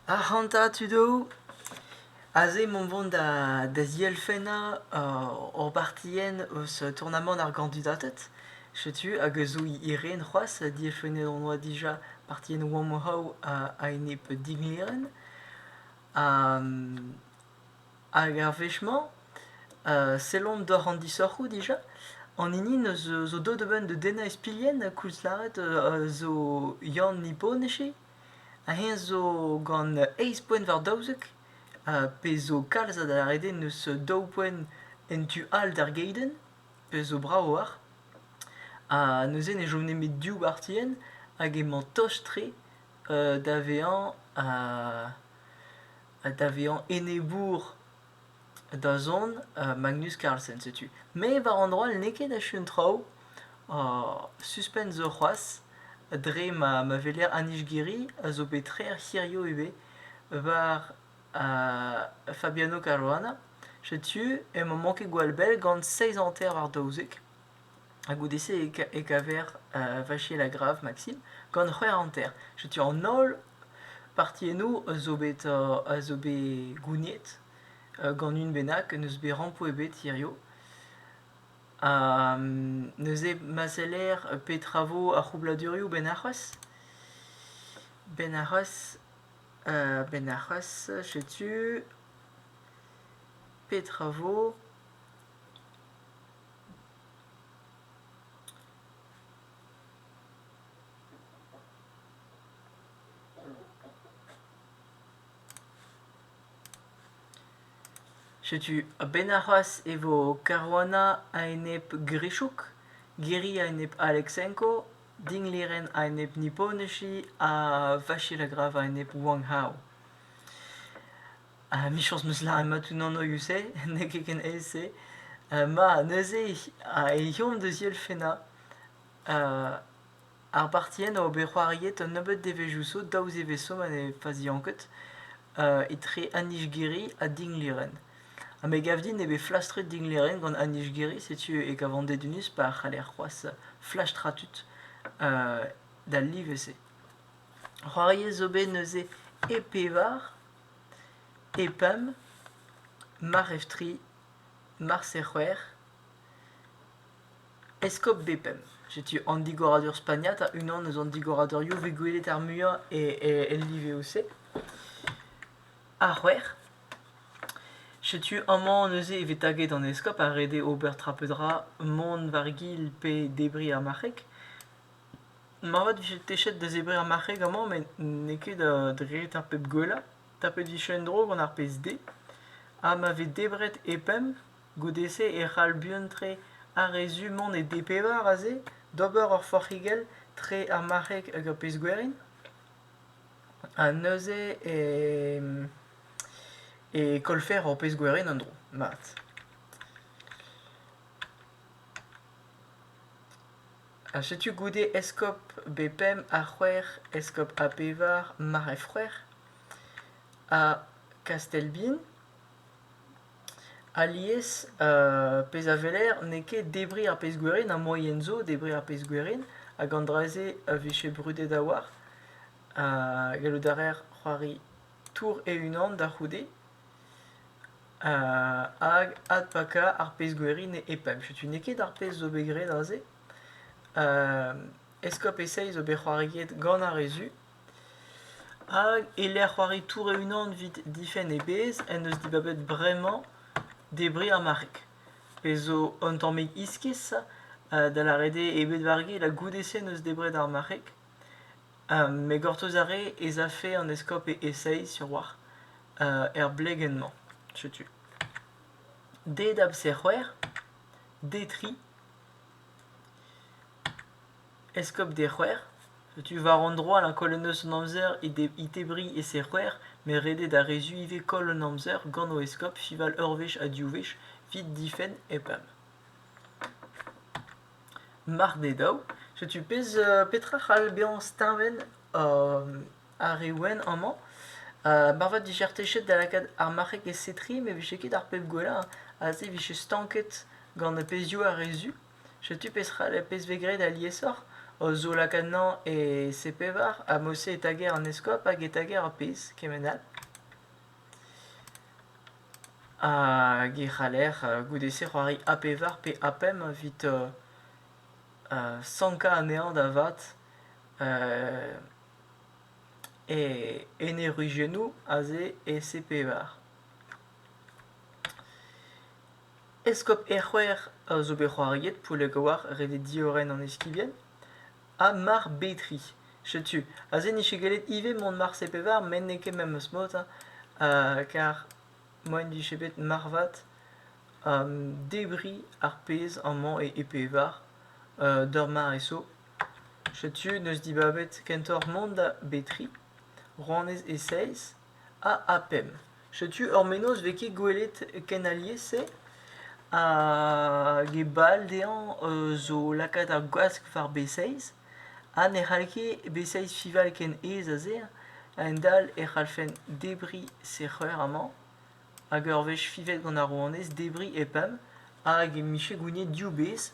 Ac'hanta tud all, aze 'mont vont da da zielfennañ hor bartienn eus tournamant ar gandudated, setu hag a zo he ren c'hoazh, dielfennet hon oa dija partiennoù Warm How a-enep dinlerenn. Hag ar wech-mañ, sellomp doc'h an disoc'hoù dija, an hini neus zo deuet a-benn da dennañ ispilhenn koulzlâret zo Yann Niponechy, ha eñ zo gant eizh poent war daouzek, pezh zo kalz a darede neus daou boent en tu all d'ar geidenn, pezh zo brav oac'h. Ha neuze ne chom nemet div bartienn hag emañ tost-tre da vezañ ha da vezañ enebour da zont Magnus Carlsen setu. Me war an droll n'eo ket achu an traoù. Suspense zo c'hoazh dre ma ma weler Anij Giri a zo bet trec'h hiziv ivez war Fabiano Caruana. Setu emañ manket gwall bell gant seizh hanter war daouzek. Ha goude-se e kaver Vachier-Lagrave, Maxime, gant c'hwec'h hanter. Setu an holl Partiennoù a zo bet a zo bet gouniet gant un bennak n'eus bet rampoù ebet hiziv. Ha neuze ma seller pe travo ar c'hroubladurioù benn arc'hwezh. Benn arc'hwezh benn arc'hwezh setu petra vo. Setu a-benn arc'hoazh e vo Caruana a-enep Grischuk, Giri a-enep Aleksenko, Dingliren a-enep Niponoshi ha Vachil a grav a-enep Wang Hao. Ha michañs n'eus lâret unan oius-se, n'eo ket ken aes-se. ma neuze e eomp da zielfennañ Ar partien a ober c'hoariet un nebeud devezhioù zo daou zevezh zo ma ne fazian ket etre Anijgiri ha Dinglýren. Ha me gav din eo bet flastret Dinglýren gant Anijgiri, setu e gavan dedennus pa c'haller c'hoazh flastrañ tud d'al live-se. C'hoariet zo bet neuze e pevar, e pemp, mar ev tri, mar c'hwec'h. Eskob Bepem. Setu an digoradur spagnat ha unan eus an digoradurioù vez gwelet ar muiañ e liveoù-se. Ar c'hwec'h. Setu amañ neuze e vez taget an eskob ha ret eo ober tra pe dra mont war-gil pe debriñ ar marc'heg. Moarvat 'vije techet da zebriñ ar marc'heg amañ met n'eo ket dre ar pep gwellañ. Tapet 'vije en-dro gant ar pezh-se. Ha ma vez debret e pemp Goude-se e c'hall buan-tre ar re zu mont e D-pevar aze d'ober ur forc'higell tre ar marc'heg hag ar pezh-gwerin. Ha neuze e e kollfer ur pezh-gwerin en-dro, mat. Ha setu goude eskob B5 ha c'hwec'h, eskob A-pevar, marc'h e-froec'h, ha Kastellbin. Alies, pezh a weler n'eo ket debriñ ar pezh gwerin, ar moaien zo debriñ ar pezh gwerin hag an dra-se a vije brudet a-walc'h. Gallout a reer c'hoari tour e-unan da c'houde hag adpakañ ar pezh gwerin e-pad. Setu n'eo ket ar pezh zo bet graet aze. Eskob e-seizh zo bet c'hoariet gant ar re zu. Hag e-lec'h c'hoari tour e-unan 'vit difenn e bezh en deus dibabet bremañ debriñ ar marc'heg, pezh zo un tammig iskis da lâret eo eo bet war gil ha goude-se 'neus debret ar marc'heg. Me gortoz a rê ez afe an eskob e esae sur 'walc'h er blegenn-mañ, setu. D-dab-se c'hwec'h, D tri. Eskob d'e c'hwec'h, setu war an dro a lak holl neuz an amzer e tebriñ e serc'hwec'h met ret eo da re zu ivez koll an amzer gant o eskob fival ur wech ha div wech evit difenn EPAM. Mar d'eo dav, setu petra c'hall bezañ steuñvenn ar re wenn amañ. Marvat 'vije ar techet da lakaat ar marc'heg e setri met 'vije ket ar pep gwellañ, aze 'vije stanket gant pezhioù ar re zu. Setu pezh vez graet aliesoc'h, o zaolak anezhañ e C-pevar ha mod-se e tager an eskob hag e tager ur pezh kement all. Hag e c'haller goude-se c'hoari A-pevar pe A-pemp evit sankañ anezhañ da vat en e ruziennoù aze e C-pevar. Eskob Erc'hwec'h a zo bet c'hoariet Poullagouar rede diorren an eskibien, ha Mar Betri. Setu, aze n'eo ket gallet ivez mont Marse-Pevar met n'eo ket memes mod, hein, ha kar moaien 'vije bet marvat debriñ ar pezh amañ e Pevar d'ur mare zo. Setu, 'neus dibabet kentoc'h mont da Betri, Rouanez e Seiz, A ha pemp. Setu ur mennozh 'vez ket gwelet ken alies-se hag e bal dezhañ zo lakaat ar gwask war B6 ha ne c'hall ket B6 fival ken aes a-se a-hend-all e c'hallfen debriñ sec'her amañ hag ur wech fivet gant ar rouanez debriñ e pemp hag e mije gouniet div bez.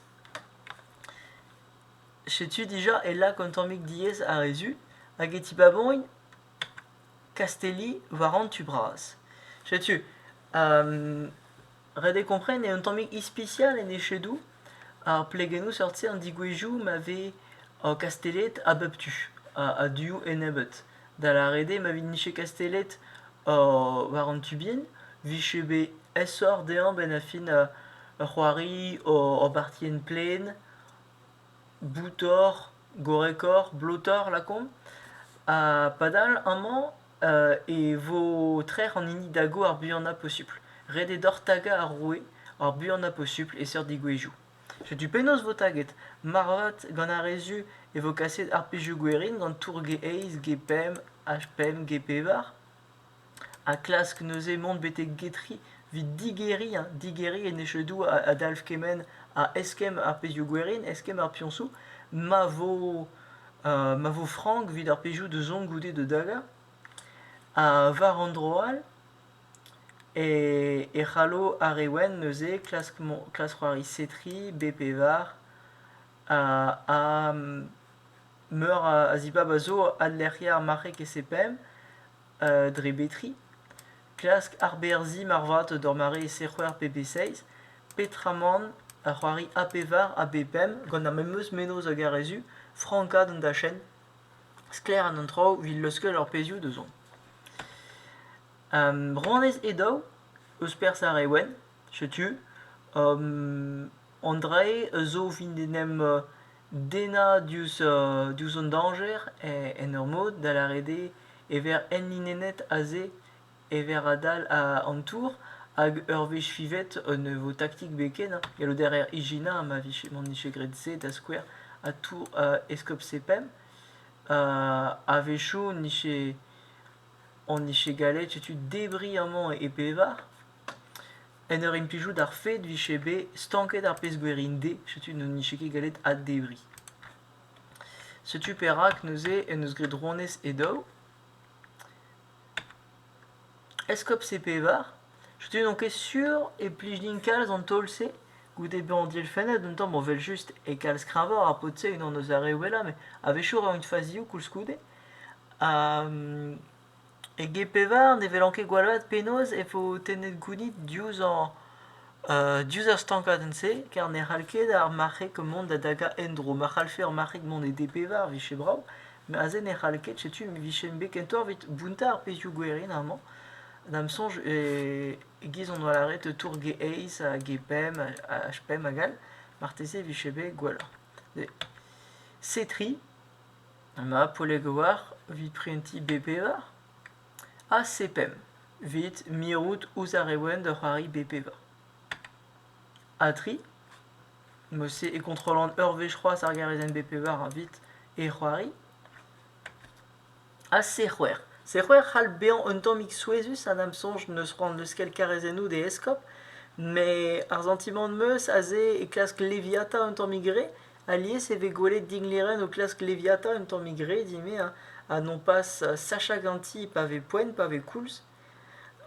Setu dija e lak an tammig diaes ar re zu hag e tibabogn Kastelli war an tu bras. Setu, um, ret eo kompren eo un tammig ispisial en echedoù ar plegennoù seurt-se an digwezhioù ma vez uh, Kastelled a bep tu, a- a-du ennebeut. Da lâret eo ma vije Kastelled uh, war an tu bihan, vije bet aesoc'h dezhañ benn ar fin uh, ur c'hoari, ur- ur bartienn plaen. boutoc'h, gorrekoc'h, blotoc'h lakaomp. Ha padal amañ e vo trec'h an hini dago ar buanañ posupl. Ret eo deoc'h tagañ ar roue ar buanañ posupl e seurt degouezhioù. Setu penaos vo taget. Moarvat gant ar re zu e vo kaset ar pezhioù gwerin gant tour G eizh, G pemp ha pemp, G pevar. ha klask neuze mont betek getri evit digeriñ digeriñ enechedoù a dalv kement a eskemm ar pezhioù gwerin eskemm ar piñsoù ma vo ma vo frank evit ar pezhioù da zont goude da dagañ ha war an dro all e c'hallo ar re wenn neuze klask c'hoari setri be pevar ha Meur a zibab a zo, adlec'hiañ ar marc'heg e CPM dre betriñ, klask arberzhiñ marvat d'ur mare e C-c'hwec'h pe B-seiz, peotramant ur c'hoari A pevar ha B pemp gant ar memes mennozh hag ar re zu, frankaat an dachenn, sklaer an traoù evit leuskel ar pezhioù da zont. Rouanez e daou eus perzh ar re wenn, setu, an drae zo 'vit en em dennañ diouzh diouzh an dañjer en ur mod da lâret eo e vez enlinennet aze ever adal an tour hag ur wech fivet ne vo taktik bet ken hein gallout a reer ijinañ ma vije m'en dije graet se da skouer ha tour eskob sepemp a-wechoù on dije gallet setu debriñ amañ e pevar En ur implijout ar fed 'vije bet stanket ar pezh gwir int dezhe, setu n'on nije ket gallet addebriñ. Setu perak neuze en deus graet Ronez e daou. Eskob C-Pevar, setu n'on ket sur e plij din kalz an taol-se goude bezañ dielfennet un tamm, bon 'vel-just e kalz kreñvañ ar paotr-se, unan eus ar re wellañ, met a-wechoù 'ra int fazioù koulskoude. Ha Eget pevar ne welan ket gwall vat penaos e vo tennet gounid diouzh ar diouzh ar stankadenn-se ker ne c'hall ket ar marc'heg mont da dagañ en-dro. Ma c'hallfe ar marc'heg mont e D-pevar 'vije brav, met aze ne c'hall ket. Setu e vijemp bet kentoc'h evit bountañ ar pezhioù gwerin amañ. Da'm soñj e-giz on oa lâret tour G-eizh ha G-pemp ha H-pemp hag all. Marteze e vije bet gwelloc'h. Setri. An Apolegoar evit prentiñ B-pevar? Ha se pemp evit mirout ouzh ar re wenn da c'hoari B-pevar. Ha tri Mod-se e kontrollan ur wech c'hoazh ar garezenn B-pevar evit e c'hoari. Ha C-c'hwec'h C-c'hwec'h c'hall bezañ un tammig souezhus ha da'm soñj n'eus c'hoant n'eus ket karezennoù d'e eskob, met ar santimant 'm eus aze e klask leviata un tammig re Alies e vez gwelet dinglerenn o klask Leviathan un tammig re eme ha, ha nopas sachañ ganti pa vez poent, pa vez koulz.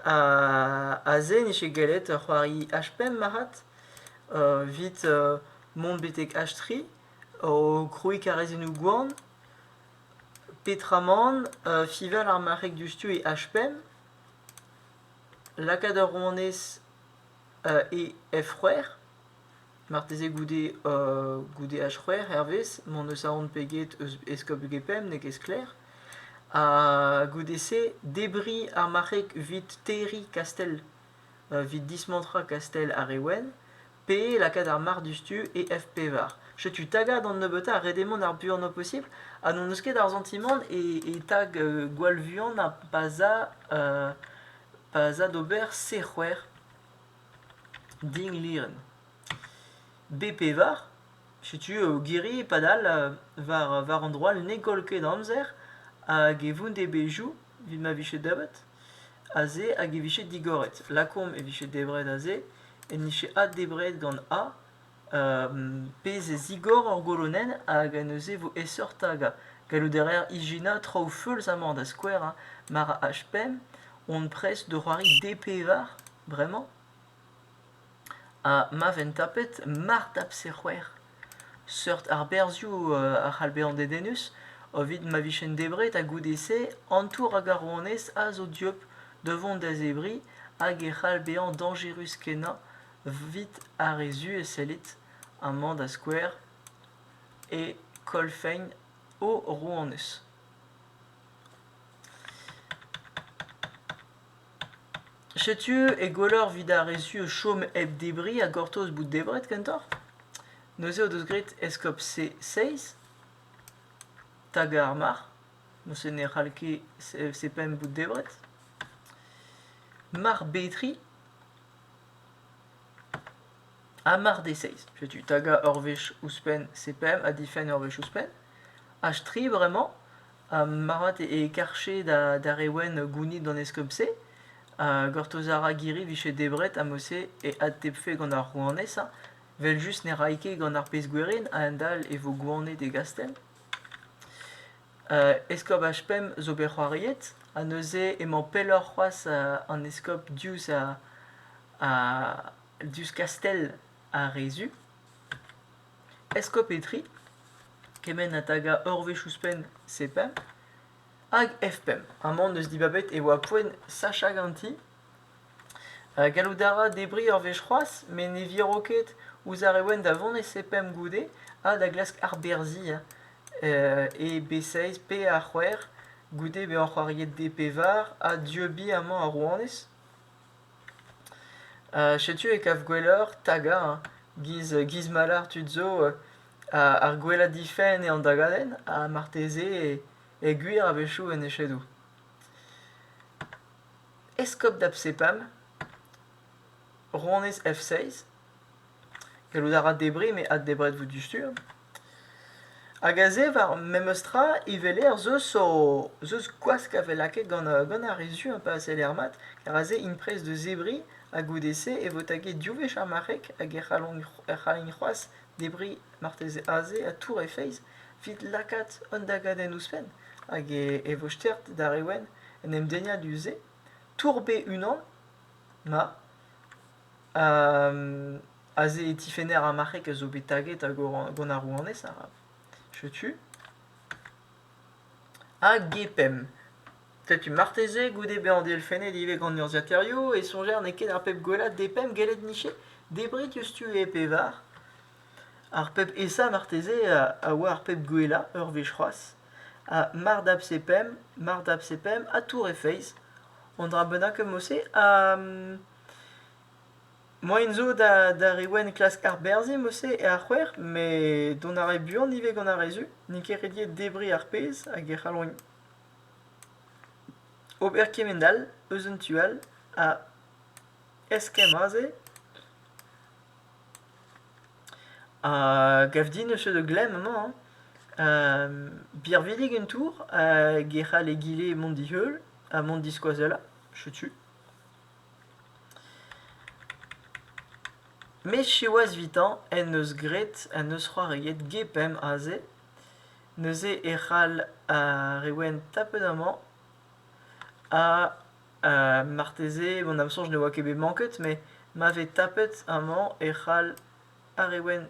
Ha, ha se ne vije gallet c'hoari H-pemp marc'had evit mont betek H-tri o krouiñ karrezennoù gwan. Petramant fival ar marc'heg diouzhtu e H-pemp, lakaat ur rouanez e F-c'hwec'h. Marteze goude euh, goude H c'hwec'h hervez m'hon eus aon peget eus eskob Gepem n'eo ket sklaer. Ha goude-se debriñ ar marc'heg evit terriñ kastell, evit dismantrañ kastell ar re Wenn pe lakaat ar marc'h diouzhtu e F pevar. Setu tagañ d'an nebeutañ ha ret eo mont ar buanañ posibl ha n'hon eus ket ar santimant e e tag gwall vuan ha pa 'z a pa 'z a d'ober C c'hwec'h. Din Lirén. Be pevar, setu eo girri padal war war an droad ne goll ket amzer hag e voun devezhioù evit ma vije deuet aze hag e vije digoret. Lakaomp e vije debret aze, en dije addebret gant A. pezh a zigor hor golonenn hag neuze e vo aesoc'h-tagañ. Gallout a reer ijinañ traoù feulzañ-mañ da skouer hein, mar h-pemp on prest da c'hoari D-pevar bremañ ha ma ven tapet mar tapse c'hwec'h. Seurt arberzhioù a c'hall bezañ dedennus evit ma vijen debret ha goude-se antour hag ar rouanez a zo dieub da vont da zebriñ hag e c'hall bezañ dañjerus-kenañ Evit ar re zu e sellit amañ da skouer e kolfein o rouanez. Setu e gwelloc'h evit ar re zu chom hep debriñ ha gortoz bout debret kentoc'h. Neuze o deus graet eskob C6 tag ar marc'h. Neuze ne c'hall ket C-pemp bout debret. Marc'h Betri Ha mar dezeiz, setu tagañ ur wech ouzhpenn CPM ha difenn ur wech ouzhpenn. Ha tri bremañ, ha marvat e karche da re wenn gounit d'an eskob-se. Ha gortoz a ra Giri 'vije debret ha mod-se e adtebfe gant ar rouanez hañ, 'vel-just ne ray ket gant ar pezh-gwerin a-hend-all e vo gouanet e gastell. Eskob HPEM zo bet c'hoariet ha neuze emañ pelloc'h c'hoazh an eskob diouzh diouzh kastell ar re Zu. Eskob Etri, kement ha tagañ ur wech ouzhpenn C-PEM, hag F-PEM. Amañ n'eus dibabet e oa poent sachañ ganti Gallout a ra debriñ ur wech c'hoazh met ne viro ket ouzh ar re wenn da vont e sepemp goude ha da glask arberzhiñ e B6 pe A6 goude bezañ c'hoariet D-pevar ha dieubiñ amañ ar rouanez. Setu e kav gwelloc'h tagañ giz mallard tud zo ar gwellañ difenn eo an dagadenn ha marteze e gwir a-wechoù en echedoù. Eskob da bSepam, ronez F6. Gallout a ra debriñ met addebret vo dustur. Hag aze, war memes tra, iveleer zeus o zeus gwask a vez lakaet gant uh, gant ar re zu un peu a seller mat, ker aze int prest da zebriñ ha goude-se e vo taget div wech ar marc'heg hag e c'hallont e c'hallint c'hoazh Debriñ marteze aze ha tour he feiz evit lakaat an dagadenn ouzhpenn hag e vo stert d'ar re wenn en em dennañ du-se tour bet unan ma aze e tifenner ar marc'heg a zo bet taget gant ar rouanez arav. Setu. Ha Gepemp. Setu marteze goude bezañ dielfennet ivez gant urzhiataerioù e soñjer n'eo ket ar pep gwellañ d'e pemp gellet niche debriñ diouzh tu e pevar. Ar pep aesañ marteze a oa ar pep gwellañ ur wech c'hoazh ha mar dap se pemp, mar dap se pemp ha tour e feiz. Un dra bennak eo mod-se ha moaien zo d'ar re wenn klask arberzhiñ mod-se e ar c'hwec'h met dont a rae buan ivez gant ar re zu n'int ket rediet debriñ ar pezh hag e c'hallont Ober kement-all eus un tu all a eskemm aze a gav din eus de glemm amañ hein birvidik un tour hag e c'hall egile mont di-heul ha mont diskoazellañ setu. Met siwazh evitañ en deus graet en deus c'hoariet Gepemp aze. Neuze e c'hall ar re wenn tapet amañ ha marteze mont am soñj ne oa ket bet manket met ma vez tapet amañ e c'hall ar re wenn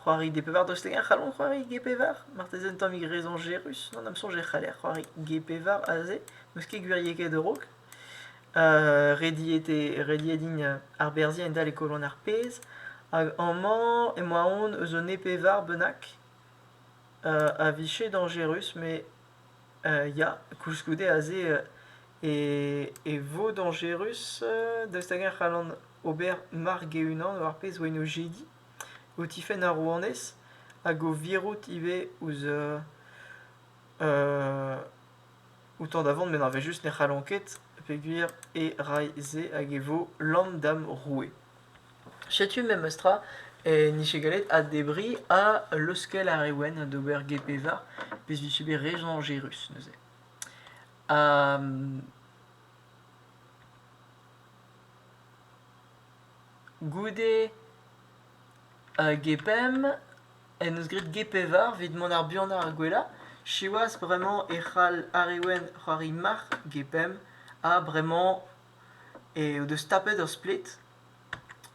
c'hoari gepevar. Daoust hag-eñ e c'hallont c'hoari gepevar? Marteze un tammig rezoñjerus. Gant am soñj e c'haller c'hoari gepevar aze. N'eus ket gwiriekaet a-raok. rediet eo rediet din arberzhiañ endalc'h e kolon ar pezh hag amañ emañ aon eus un e-pevar bennak a vije dañjerus met ya koulskoude aze e vo dañjerus daoust hag-eñ e c'hallan ober mark e-unan war pezh oa en o jediñ o tifenn ar rouanez hag o virout ivez ouzh Outan da vont met ar vezh-just ne c'hallont ket peogwir e rae-se hag e vo lamm da'm roue. Setu memestra e nije gallet addebriñ ha leuskel ar re wenn d'ober GP-var vez vije bet re soñjerus neuze. Ha goude Gepemp en deus graet Ge-pevar evit mont ar buanañ ar gwellañ. Siwazh bremañ e c'hall ar re wenn c'hoari marc'h Gepemp ha bremañ eo deus tapet ur splet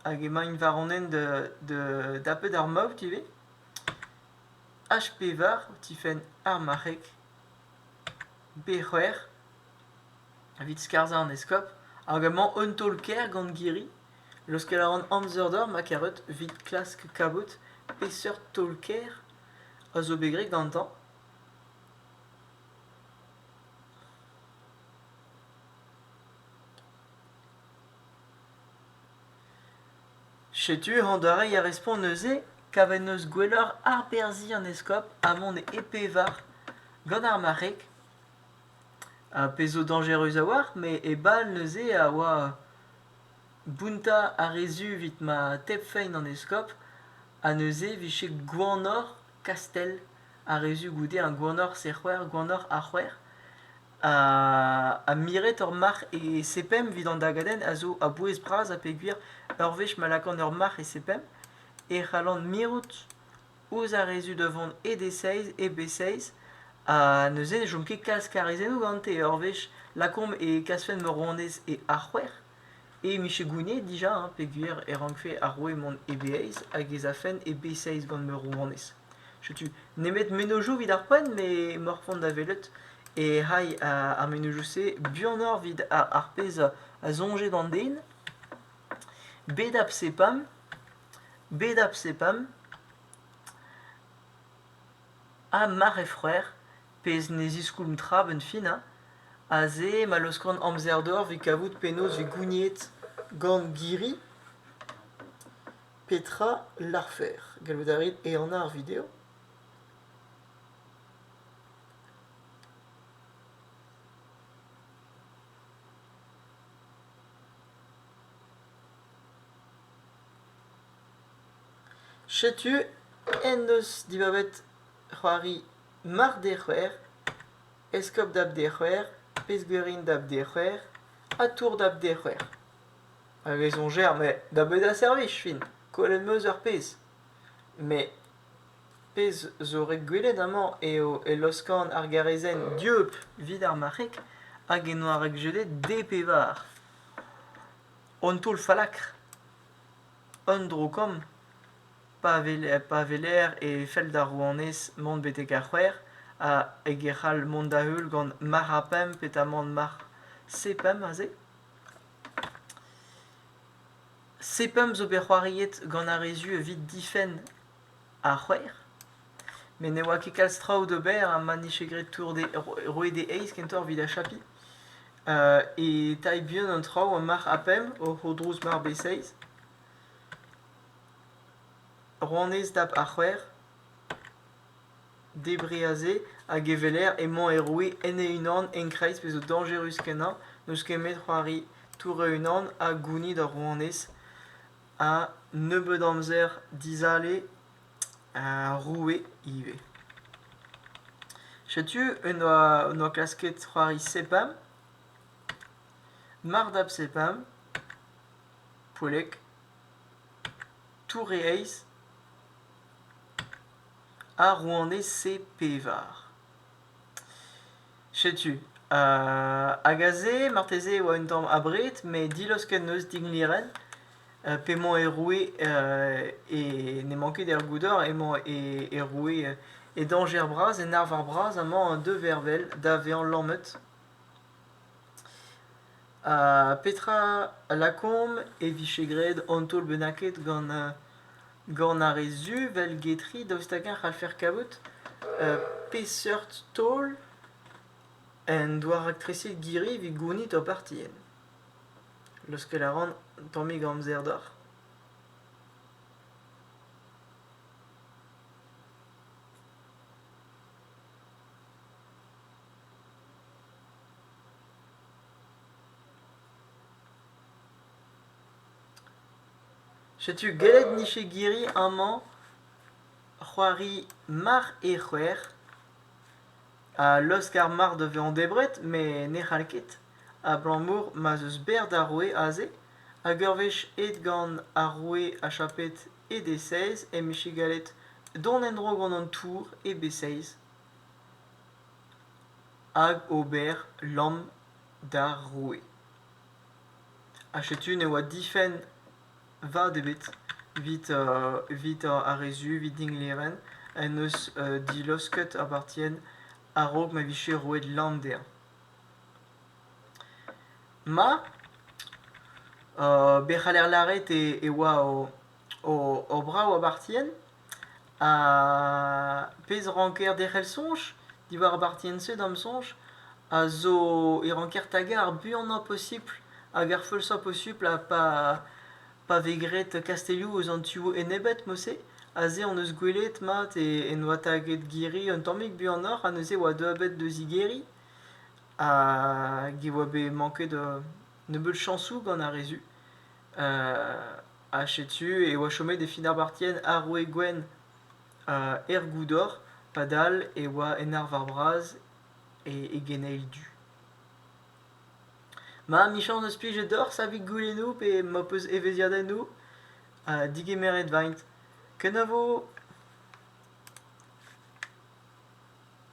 hag emaint war an hent da dapet ar maout ivez. H-pevar o tifenn ar marc'heg B-c'hwec'h evit skarzhañ an eskob hag amañ un taol-kaer gant Girri. Leuskel a ran amzer deoc'h ma karout evit klask kavout peseurt taol-kaer a zo bet graet gantañ. Setu an doare a respont neuze kavet 'neus gwelloc'h arberzhiñ an eskob ha mont e pevar gant ar marc'heg. Ar pezh zo dañjerus a-walc'h, met e bal neuze a oa Bountañ a re zu evit ma tebfein an eskob ha neuze e vije gwanoc'h Kastell ha re zu goude ha gwanoc'h Sec'hwec'h, gwanoc'h ar C'hwec'h ha miret ur marc'h e Sepemp evit an dagadenn a zo a-bouez bras ha peogwir ur wech ma lakaan ur marc'h e Sepemp e c'hallan mirout ouzh ar re zu da vont e D6, e B6, ha neuze ne chom ket kalz karizennoù gante. Ur wech lakaomp e kasfen ma ronez e A6, e mije gouniet dija hein, peogwir e rankfe ar roue mont e B6 hag ez afen e B6 gant ma rouanez. Setu nemet mennozhioù evit ar poent, met m'oc'h c'hoant da welet e c'hai ar mennozhioù-se buanoc'h evit ar pezh a soñje d'an den, bet a psepamp bed ar psepam, ha mar eo c'hwec'h, pezh ne ziskoulm tra 'benn fin ha, aze ma laoskont amzer deoc'h 'vit kavout penaos 'vit gouniet gant Giri petra larfer. Gallout a rit ehanañ ar video. Setu en deus dibabet c'hoari Marc'h d'e c'hwec'h, Eskob dab d'e c'hwec'h, Pezhgouerin dab d'e c'hwec'h ha Tour dab d'e c'hwec'h. Hag e soñjer, met da bet a servij fin, kollet 'm eus ar pezh. Met pezh zo ret gwelet amañ eo e loskan ar garezenn dieub 'vit ar marc'heg hag e noa ret jedet D pevar. Un toull fallakr, un dro-kamm, pa weler, pa weler e fell d'ar rouanez mont betek ar c'hwec'h ha hag e c'hall mont da-heul gant marc'h ha pemp petamant marc'h C-pemp aze. C-pemp zo bet c'hoariet gant ar re zu evit difenn ha c'hwec'h. Met ne oa ket kalz traoù d'ober ha ma 'nije graet tour d'e roet e eizh kentoc'h evit achapiñ. E tailh buan an traoù eo marc'h ha pemp oc'h o drouz mart be seizh. Ronez dap ha c'hwec'h. Debriñ aze hag e weler emañ e roue en e-unan en-kreiz pezh zo dañjerus kenañ. N'eus ket met c'hoari tour e-unan ha gounit ar ronez. ha nebeut amzer dizale roue ivez. Setu en doa, en doa klasket c'hoari Sepam, Mardab Sepam, Poellek, Toure Eiz ha rouanez Pe Pevar. Setu, hag aze marteze e oa un tamm abred met dilaos ken eus Dingleyren p'emañ e roue e n'emañ ket er goudor emañ e roue e dañjer bras en arvar bras amañ deux vervel da vezañ lammet. Petra a lakaomp e vije graet an taol bennaket gant ar re zu 'vel getri daoust hag-eñ a c'hallfer kavout peseurt taol en doa raktreset Girri evit gounit ur parteenn? Leuskel a ran un tammig amzer deoc'h. Setu gellet nije girri amañ c'hoari mar eo c'hwec'h ha laoskar mar da vezañ debret met ne c'hall ket abalamour ma'z eus berr d'ar roue aze hag ur wech aet gant ar roue ha chapet e d-seiz em bije gallet dont en-dro gant an tour e b-seiz hag ober lamm d'ar roue. Ha setu ne oa difenn vat ebet evit uh, evit uh, ar re zu evit Dinglevin en deus uh, dilosket apartien a-raok ma vije roet lamm dezhañ. Ma, uh, bet c'haller lâret e, e oa o, o, o brav apartien ar pezh ranker derc'hel soñj diwar ar bartienn-se da'm soñj a zo e ranker tagañ ar buanañ posibl hag ar feusañ posubl ha pa pa vez graet kastelloù eus an tu enebet mod-se aze hon eus gwelet mat en oa taget girri un tammig buanoc'h ha neuze e oa deuet bet deus he girri hag e oa bet manket nebeut chañsoù gant ar re zu ha setu e oa chomet e Finabartien ar roue gwenn er goudor padal e oa en arvar bras e geneil du. Ma amichañs eus plijet deoc'h savit goulennoù pe ma peus evezhiadennoù digemeret vaint. Kenavo!